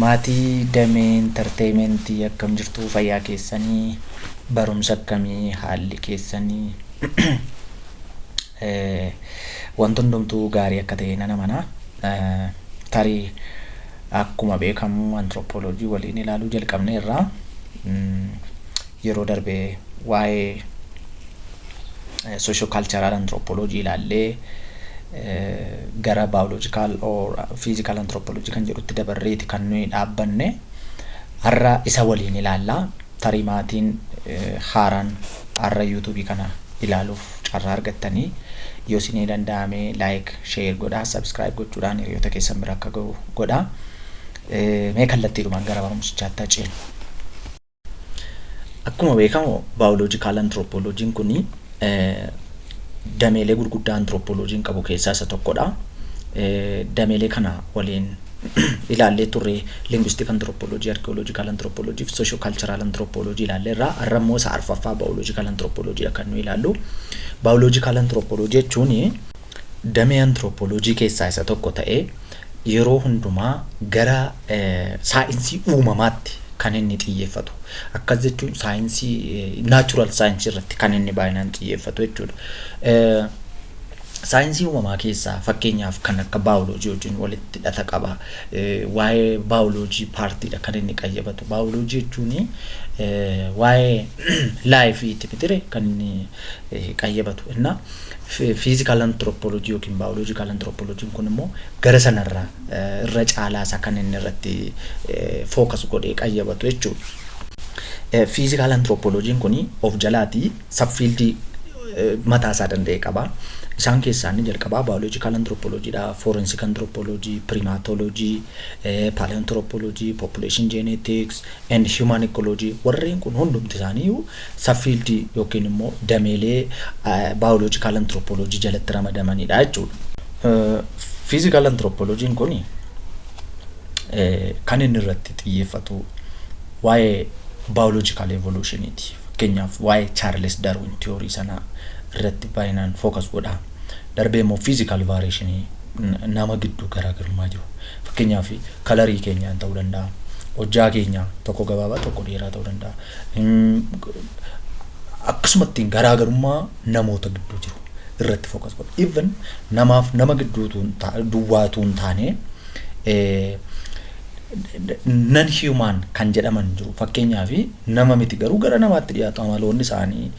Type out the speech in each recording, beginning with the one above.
Maatii Damee Entertainment akkam jirtuu fayyaa keessanii barumsa akkamii haalli keessanii wanti hundumtuu gaarii akka ta'e nan amana tarii akkuma beekamu anthropology waliin ilaaluu jalqabne irraa Yeroo darbe waa'ee socio-cultural anthropology ilaallee gara biological or physical anthropology kan jedhutti dabarreeti kan nuyi dhaabbanne. Har'a isa waliin ilaalla. Tarii maatiin haaraan har'a YouTube kana ilaaluuf carraa argattanii yoo isinii danda'ame like, share godhaa, subscribe gochuudhaan hiriyoota keessan bira akka ga'u godhaa. Mee kallattiidhumaan gara barumsichaatti haa ceenu. Akkuma beekamu baayoloojikaal antiroopooloojiin kun dameelee gurguddaa antiroopooloojiin qabu keessaa isa tokkodha. Dameelee kana waliin ilaallee turre lingwistik antiroopooloojii, arkiyooloojikaal antiroopooloojii fi soosho kaalcharaal antiroopooloojii ilaallee irraa har'a immoo isa arfaffaa baayoloojikaal antiroopooloojii kan nu ilaallu. Baayoloojikaal antiroopooloojii jechuun damee antirooppooloojii keessaa isa tokko ta'ee yeroo hundumaa gara saayinsii uumamaatti kan inni xiyyeeffatu. Akkas jechuun saayinsii naachuraal saayinsii irratti kan inni baay'inaan xiyyeeffatu jechuudha. Saayinsii uumamaa keessaa fakkeenyaaf kan akka baayoloojii wajjin walitti hidhata qaba. Waa'ee baayoloojii paartiidha kan inni qayyabatu. Baayoloojii jechuun waa'ee laayifiiti mitire kan inni qayyabatu. Innaa Physical Anthropology yookiin Biological Anthropology kun immoo gara sanarraa irra caalaa isaa kan inni irratti focus godhee qayyabatu jechuudha. Physical Anthropology kun of jalaatii subfiildii mataa isaa danda'e qaba. Isaan keessaa inni jalqabaa Biological Anthropology dha, Forensic Anthropology, Primatology, Paleoanthropology, Population Genetics and Human Ecology warreen kun hundumti isaanii sub-field yookiin immoo dameelee biological anthropology jalatti ramadamanidha jechuudha. Physical anthropology kun kan inni irratti xiyyeeffatu waa'ee biological evolution ti. Fakkeenyaaf waa'ee Charles Darwin theory sana irratti baay'inaan focus godha. Darbee immoo physical variation nama gidduu garaagarummaa jiru. Fakkeenyaaf kalarii keenyaan ta'uu danda'a. Hojjaa keenya tokko gabaabaa tokko dheeraa ta'uu danda'a. Akkasumatti garaagarummaa namoota gidduu jiru irratti focus godha. Even namaaf nama gidduu duwwaa utuu hin taane nan human kan jedhaman jiru. Fakkeenyaaf nama miti garuu gara namaatti dhiyaatu amaloonni isaanii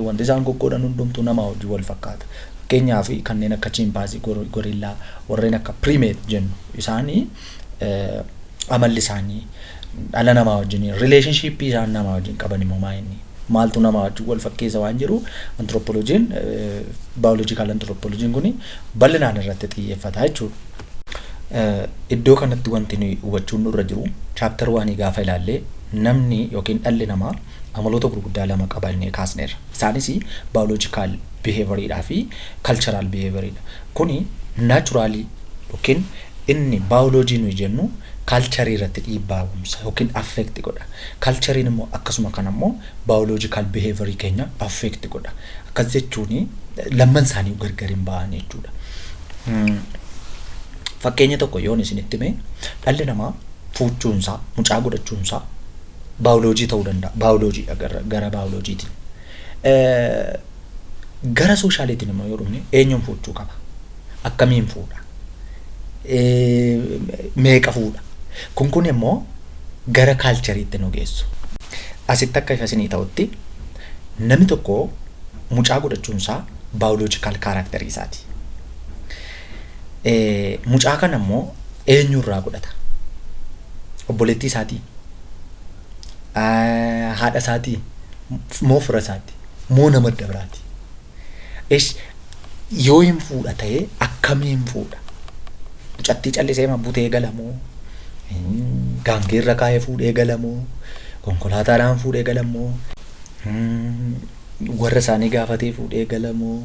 wanti isaan goggoodhan hundumtuu namaa wajjin wal fakkaata. Fakkeenyaaf kanneen akka chimpaazii, gorillaa warreen akka primate jennu isaanii amalli isaanii dhala namaa wajjin relationship isaan namaa wajjin qaban immoo maa inni maaltu namaa wajjin wal fakkeessa waan jedhu anthropologiin biological anthropologiin kun bal'inaan irratti xiyyeeffata jechuudha. Iddoo kanatti wanti nuyi hubachuun nurra jiru chaaptar waanii gaafa ilaallee namni yookiin dhalli namaa amaloota gurguddaa lama qaba innee kaasneerra. Isaanis biological behavior dha fi cultural behavior dha. Kuni naachuraalii yookiin inni baayoloojii nuyi jennu kaalcharii irratti dhiibbaa uumsa yookiin affeekti godha. Kaalchariin immoo akkasuma kana immoo baayoloojikaal biheevarii keenya affeekti godha. Akkas jechuun lamman isaanii gargar hin ba'an jechuudha. Fakkeenya tokko yoon isinitti hime dhalli namaa fuuchuunsaa mucaa godhachuunsaa baayoloojii ta'uu danda'a. Baayoloojiidha gara baayoloojiitiin. Gara sooshaaliitiin immoo yoo dhufne eenyuun fuudhuu qaba? Akkamiin fuudha? Meeqa fuudha? Kun kun immoo gara kaalchariitti nu geessu. Asitti akka ifa isinii ta'utti namni tokko mucaa godhachuun isaa baayoloojikaal kaaraaktarii isaati. Mucaa kana immoo eenyu irraa godhata? Obboleettii isaatii? Haadha isaatii? Moo fira isaati? moo nama adda biraati? Esh yoo hin fuudha ta'ee akkamiin fuudha? Mucattii callisee ma butee gala moo? Mm, Gaangee irra kaa'ee fuudhee gala moo? Konkolaataadhaan fuudhee gala moo? Mm, Warra isaanii gaafatee fuudhee gala moo?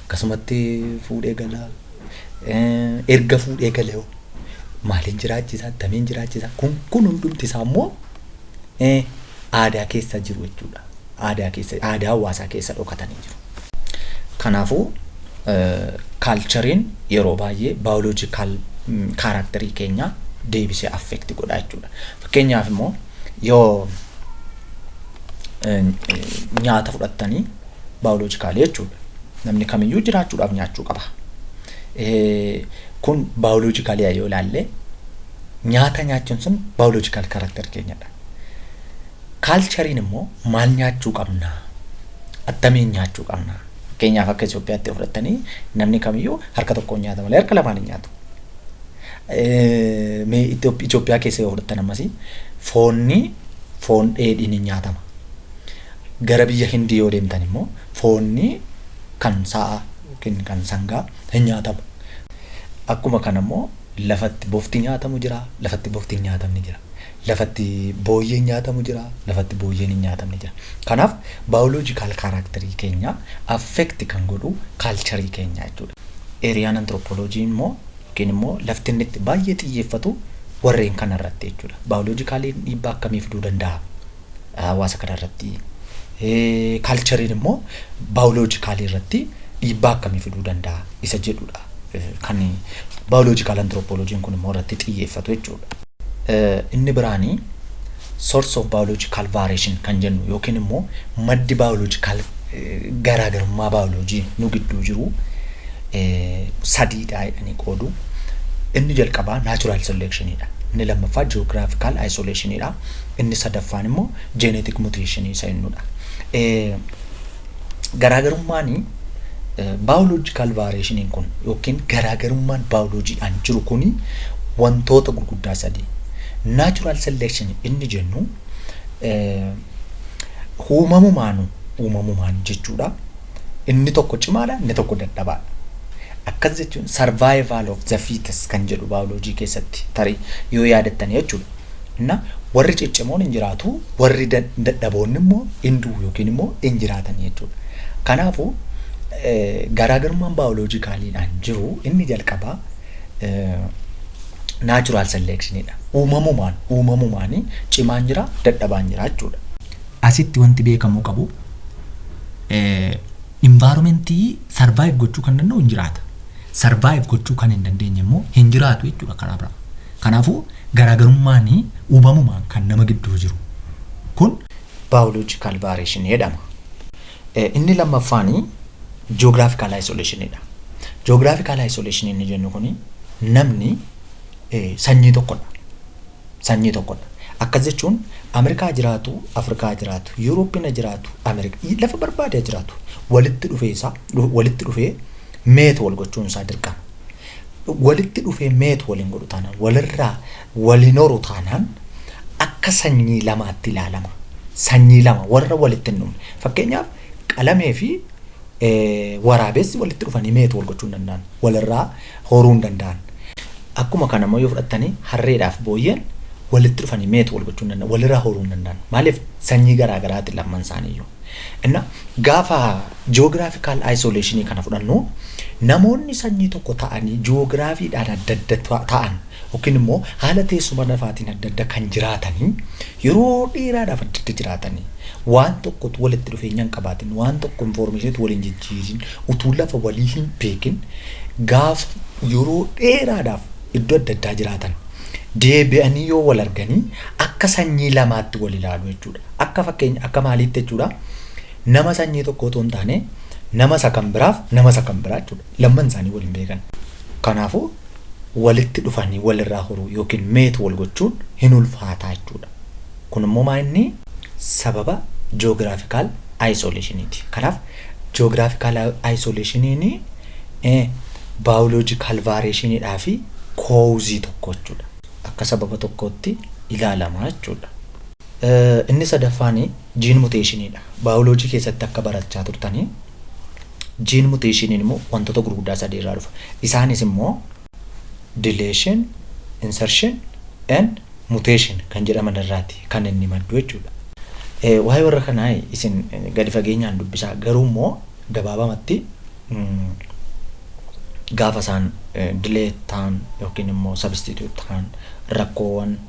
Akkasumatti fuudhee gala. Eh, Erga fuudhee gale hoo? Maaliin jiraachisaa? Attamiin jiraachisaa? Kun kun hundumti isaa immoo eh, aadaa keessa jiru jechuudha. Aadaa keessa aadaa hawaasaa keessa dhokatanii jiru. Kanaafuu kaalchariin yeroo baay'ee baayoloojikaal kaaraakterii keenya deebisee affeekti godha jechuudha. Fakkeenyaaf immoo yoo nyaata fudhattanii baayoloojikaalii jechuudha. Namni kamiyyuu jiraachuudhaaf nyaachuu qaba. Kun baayoloojikaalii yoo ilaalle Nyaata nyaachuun sun biological character keenyadha. Kaalchariin immoo maal nyaachuu qabnaa? Attamiin nyaachuu qabnaa? Fakkeenyaaf akka Itoophiyaatti yoo fudhattanii namni kamiyyuu harka tokkoon nyaata malee harka lamaan hin nyaatu. Eh, Mee Itoo- Itoophiyaa keessa yoo fudhattan ammasii foonni foon dheedhiin ni nyaatama. Gara biyya Hindii yoo deemtan immoo foonni kan sa'a yookiin kan sangaa hin nyaatamu. Akkuma kana immoo Lafa itti bofti nyaatamu jira, lafa itti bofti hin nyaatamne jira. Lafa itti booyyeen nyaatamu jira, lafa itti booyyeen hin nyaatamne jira. Kanaaf biological character keenya affect kan godhu culture keenya jechuudha. Area and anthropology immoo yookiin immoo lafti inni itti baay'ee xiyyeeffatu warreen kana irratti jechuudha. Biologically dhiibbaa akkamii fiduu danda'a? hawaasa kana irratti kaalchariin immoo baayoloojikaalii irratti dhiibbaa akkamii fiduu danda'a isa jedhudha. Kan baayoloojikaal antiroopooloojiin kun immoo irratti xiyyeeffatu jechuudha. Inni biraanii source of biological variation kan jennu yookiin immoo maddi biological garaagarummaa biology nu gidduu jiru sadiidha jedhanii qoodu. Inni jalqabaa natural selection dha. Inni lammaffaa geographical isolation dha. Inni sadaffaan immoo jeeneetik muteeshinii isa innudha. Garaagarummaan baayoloojikaal vaayireeshiniin kun yookiin garaagarummaan baayoloojiidhaan jiru kun wantoota gurguddaa sadii. Naachuraal seleekshinii inni jennu uumamumaanu uumamumaan jechuudha. Inni tokko cimaadha, inni tokko dadhabaadha. Akkas jechuun survival of the fittest kan jedhu baayoloojii keessatti tarii yoo yaadattan jechuudha. Na, warri ciccimoon in jiraatu, warri dad- dadhaboonni immoo in du'u yookiin immoo in jiraatan jechuudha. Kanaafuu eh, garaagarummaan baayoloojikaaliidhaan jiru inni jalqabaa eh, naachuraal selekshiniidha. Uumamumaan, uumamumaan cimaan jira, dadhabaan jira jechuudha. Asitti wanti beekamuu qabu eh, Environmentii survive gochuu kan danda'u hin jiraata. Survive gochuu kan hin dandeenye immoo hin jiraatu jechuudha karaa biraa. Kanaafuu garaagarummaan uumamumaan kan nama gidduu jiru kun biological variation jedhama. Inni lammaffaan geographical isolation dha. Geographical isolation inni jennu kun namni sanyii tokkodha. Sanyii tokkodha. Akkas jechuun Amerikaa jiraatu, Afrikaa jiraatu, Yuurooppi na jiraatu, Amerika, lafa barbaade ha jiraatu. Walitti dhufee isaa, walitti dhufee meet wal gochuun isaa dirqama. Walitti dhufee meet waliin godhu taanaan, walirraa waliin horu taanaan akka sanyii lamaatti ilaalama. Sanyii lama warra walitti hin dhumne. Fakkeenyaaf qalamee fi Waraabessi walitti dhufanii meet wal gochuu hin danda'an. Walirraa horuu hin danda'an. Akkuma kana immoo yoo fudhattani harreedhaaf booyyeen walitti dhufanii meet wal gochuu hin danda'an. Walirraa horuu hin danda'an. Maaliif sanyii garaa garaati lamman isaaniiyyuu. Inna gaafa geographical isolation kana fudhannu namoonni sanyii tokko ta'anii geography dhaan adda adda ta'an yookiin immoo haala teessuma lafaatiin adda adda kan jiraatanii yeroo dheeraadhaaf adda adda jiraatanii waan tokko utuu walitti dhufeenya hin qabaatin waan tokko information utuu waliin jijjiirin utuu lafa walii hin beekin gaaf yeroo dheeraadhaaf iddoo adda addaa jiraatan deebi'anii yoo wal arganii akka sanyii lamaatti wal ilaalu jechuudha. Akka fakkeenya akka maaliitti jechuudha nama sanyii tokko otoo hin taane nama isa kan biraaf nama isa kan biraa jechuudha lamman isaanii wal hin beekan. Kanaafuu walitti dhufanii wal irraa horuu ykn mate wal gochuun hin ulfaataa jechuu dha. Kun immoo maa inni? Sababa geographical isolation ti. Kanaaf geographical isolation ni biological variation dhaa fi cause tokko jechuu dha. Akka sababa tokkootti ilaalama jechuu dha. Inni sadaffaan jiin muteeshinii dha. Baayoloojii keessatti akka barachaa turtanii jiin muteeshiniin immoo wantoota gurguddaa sadii irraa dhufa. Isaanis immoo dileeshin, insarshin, en muteeshin kan jedhaman irraati kan inni maddu jechuudha. Waa'ee warra kanaa isin gadi fageenyaan dubbisaa garuu immoo gabaabamatti gaafa isaan dilee ta'an yookiin immoo sabistiitiyuut ta'an rakkoowwan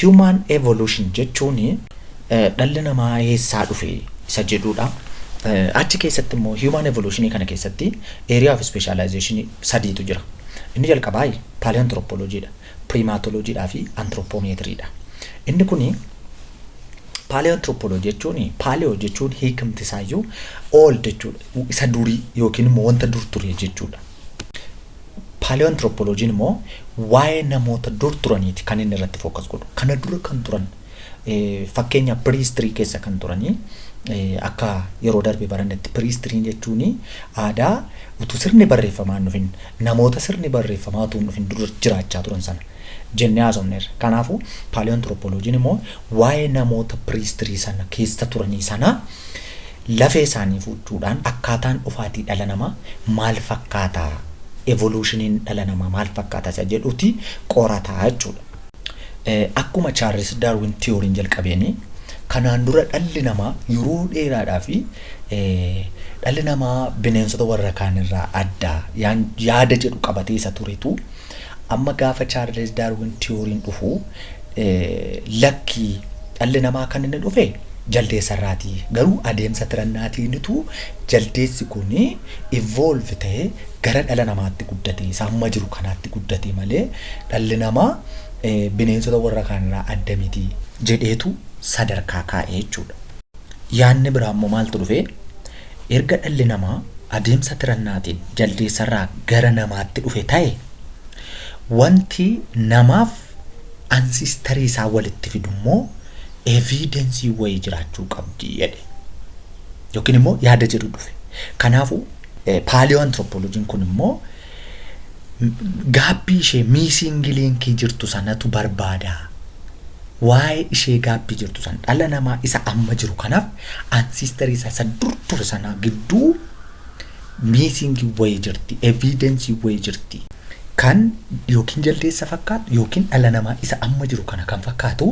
Human evolution jechuun dhalli namaa eessaa dhufe isa jedhuudha. Achi keessatti immoo human evolution kana keessatti area of specialization sadiitu jira. Inni jalqabaa paleanthropology dha, primatology dhaa fi anthropometry dha. Inni kuni paleanthropology jechuun paleo jechuun hiikamti isaayyuu old jechuudha. Isa durii yookiin immoo wanta dur ture jechuudha. Paaleoanthropology'n immoo waa'ee namoota dur turaniiti kan inni irratti focus godhu. Kana dura kan turan fakkeenya prehistory keessa kan turanii akka yeroo darbe barannetti prehistory jechuun aadaa utuu sirni barreeffamaa hin dhufin namoota sirni barreeffamaa utuu hin dhufin dura jiraachaa turan sana jennee haasofneerra. Kanaafuu paaleoanthropology'n immoo waa'ee namoota prehistory sana keessa turanii sana Lafee isaanii fuuchuudhaan akkaataan dhufaatii dhala namaa maal fakkaata, evolution-iin dhala namaa maal fakkaata isa jedhuti qorata jechuudha. Akkuma Charles Darwin theory-n jalqabeeni, kanaan dura dhalli namaa yeroo dheeraadhaaf dhalli namaa bineensota warra kaan irraa adda yaada jedhu qabatee isa turetu, Amma gaafa Chaarles Daarwin tiyooriin dhufu lakki dhalli namaa kan inni dhufe jaldeessa irraati. Garuu adeemsa tirannaatiinitu jaldeessi kun evolve ta'e gara dhala namaatti guddate isa amma jiru kanaatti guddate malee dhalli namaa bineensota warra kaanirraa adda miti jedheetu sadarkaa kaa'e jechuudha. Yaanni biraa immoo maaltu dhufe? Erga dhalli namaa adeemsa tirannaatiin jaldeessarraa gara namaatti dhufe ta'e, wanti namaaf ancestor isaa walitti fidummoo evidence wayii jiraachuu qabdi jedhe. Yookiin immoo yaada jedhu dhufe. Kanaafuu paleoanthropology'n kun immoo gaabbii ishee missing link jirtu sanatu barbaada. Waa'ee ishee gaabbii jirtu san, dhala namaa isa amma jiru kanaaf ancestor isaa isa dur ture sanaa gidduu missing wayii jirti, evidence wayii jirti. Kan yookiin jaldeessa fakkaatu yookiin dhala namaa isa amma jiru kana kan fakkaatu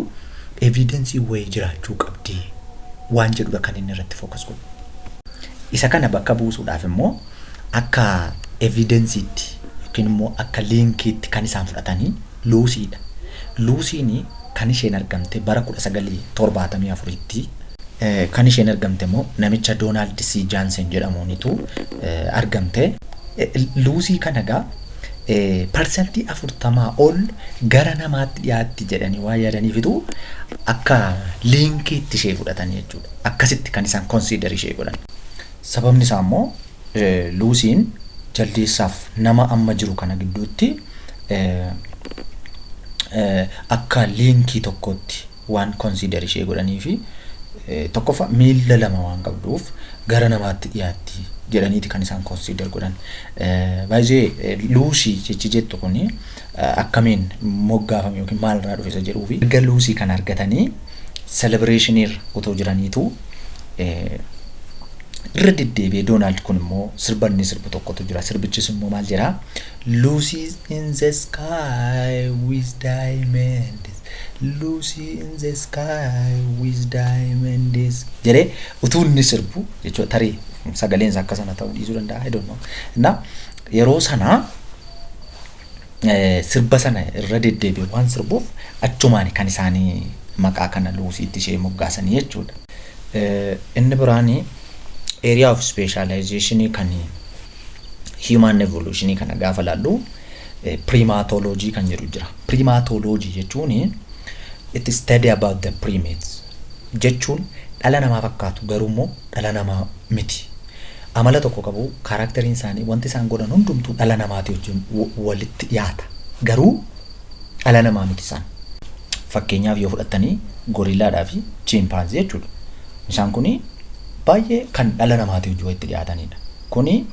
evidence wayii jiraachuu qabdi waan jedhudha kan inni irratti focus godhu. Isa kana bakka buusuudhaaf immoo. Akka evidensiitti yookiin immoo akka liinkiitti kan isaan fudhatanii Luusiidha. Luusiin kan isheen argamte bara 1974tti. Kan isheen argamte immoo namicha Doonaald C. Jaansen jedhamuunitu argamte. Luusii kana egaa parsantii 40 ol gara namaatti dhiyaatti jedhanii waan yaadaniifitu akka liinkiitti ishee fudhatanii jechuudha. Akkasitti kan isaan konsiidar ishee godhan. Sababni isaa immoo Luusiin jaldeessaaf nama amma jiru kana gidduutti akka liinkii tokkootti waan konsiidar ishee godhanii fi tokkoffaa miila lama waan qabduuf gara namaatti dhiyaatti jedhaniiti kan isaan konsiidar godhan. Baay'ee Luusii jechi jettu kun akkamiin moggaafame yookiin maal irraa dhufe isa jedhuu fi erga Luusii kana argatanii celebration irra otoo jiraniitu irra deddeebi'ee Doonaald kun immoo sirba inni sirbu tokkotu jira. Sirbichis immoo maal jedha? Lucy is in the sky with diamonds. Lucy in the sky with diamonds. Jedhee utuu inni sirbu jechuudha tarii sagaleen isaa akka sana ta'uu dhiisuu danda'a. I don't know. Innaa yeroo sana sirba sana irra deddeebi'e waan sirbuuf achumaani kan isaanii maqaa kana Luusiitti ishee moggaasanii jechuudha. Inni biraan area of specialization kan human evolution kana gaafa laallu primatology kan jedhu jira. Primatology jechuun it is study about the primates jechuun dhala namaa fakkaatu garuu immoo dhala namaa miti. Amala tokko qabu, kaaraakteriin isaanii, wanti isaan godhan hundumtuu dhala namaatii wajjin walitti dhiyaata. Garuu dhala namaa miti isaan. Fakkeenyaaf yoo fudhattanii gorillaadhaa fi chiimpaanzii jechuudha. Isaan kun baay'ee kan dhala namaatii wajjin walitti dhiyaatanidha. Kuni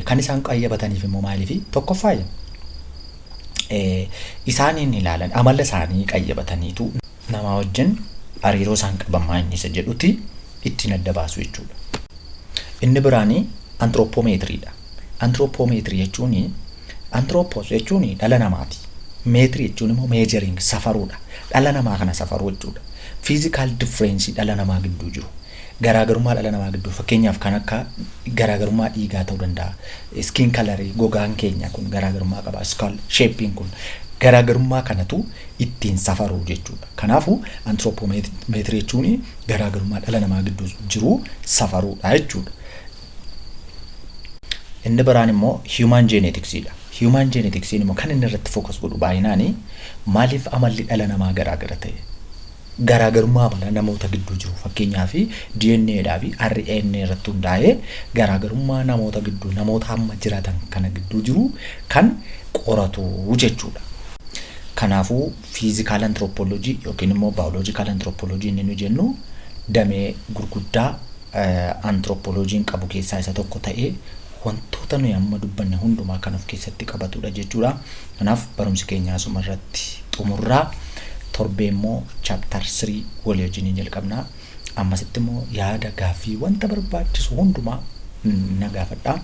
kan isaan qayyabataniif immoo maaliifi? Tokkoffaa isaaniin ilaalan amala isaanii qayyabataniitu. namaa wajjin hariiroo isaan qaban maa inni isa jedhuti ittiin adda baasu jechuudha. Inni biraani antirooppoomeetiriidha. Antirooppoomeetirii jechuun antirooppoos jechuun dhala namaati. Meetirii jechuun immoo meejeriing safaruudha. Dhala namaa kana safaruu jechuudha. Fiizikaal differeensii dhala namaa gidduu jiru. Garaagarummaa dhala namaa gidduu fakkeenyaaf kan akka garaagarummaa dhiigaa ta'uu danda'a. Skin color gogaan keenya kun garaagarummaa qaba. Skull shape'n kun garaagarummaa kanatu ittiin safaru jechuudha. Kanaafuu antirooppoomeetirii jechuun garaagarummaa dhala namaa gidduu jiru safaruudha jechuudha. Inni biraan immoo human genetics dha. Human genetics immoo kan inni irratti focus godhu baay'inaani maaliif amalli dhala namaa garaagara ta'e? Garaagarummaa amalaa namoota gidduu jiru fakkeenyaaf DNA dhaa fi RNA irratti hundaa'ee garaagarummaa namoota gidduu namoota amma jiratan kana gidduu jiru kan qoratu jechuudha. Kanaafuu fiizikaal antiroopooloojii yookiin immoo baayoloojikaal antiroopooloojii inni nu jennu damee gurguddaa antirooppooloojiin qabu keessaa isa tokko ta'ee wantoota nuyi amma dubbanne hundumaa kan of keessatti qabatudha jechuudha. Kanaaf barumsi keenya asuma irratti xumurraa torbee immoo chaaptar 3 walii wajjin hin jalqabna. Ammasitti immoo yaada gaaffii wanta barbaachisu hundumaa na gaafadha.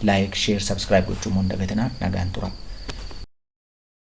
Laayik, sheer, sabskiraayib gochuu immoo hin dagatinaa nagaan turaa.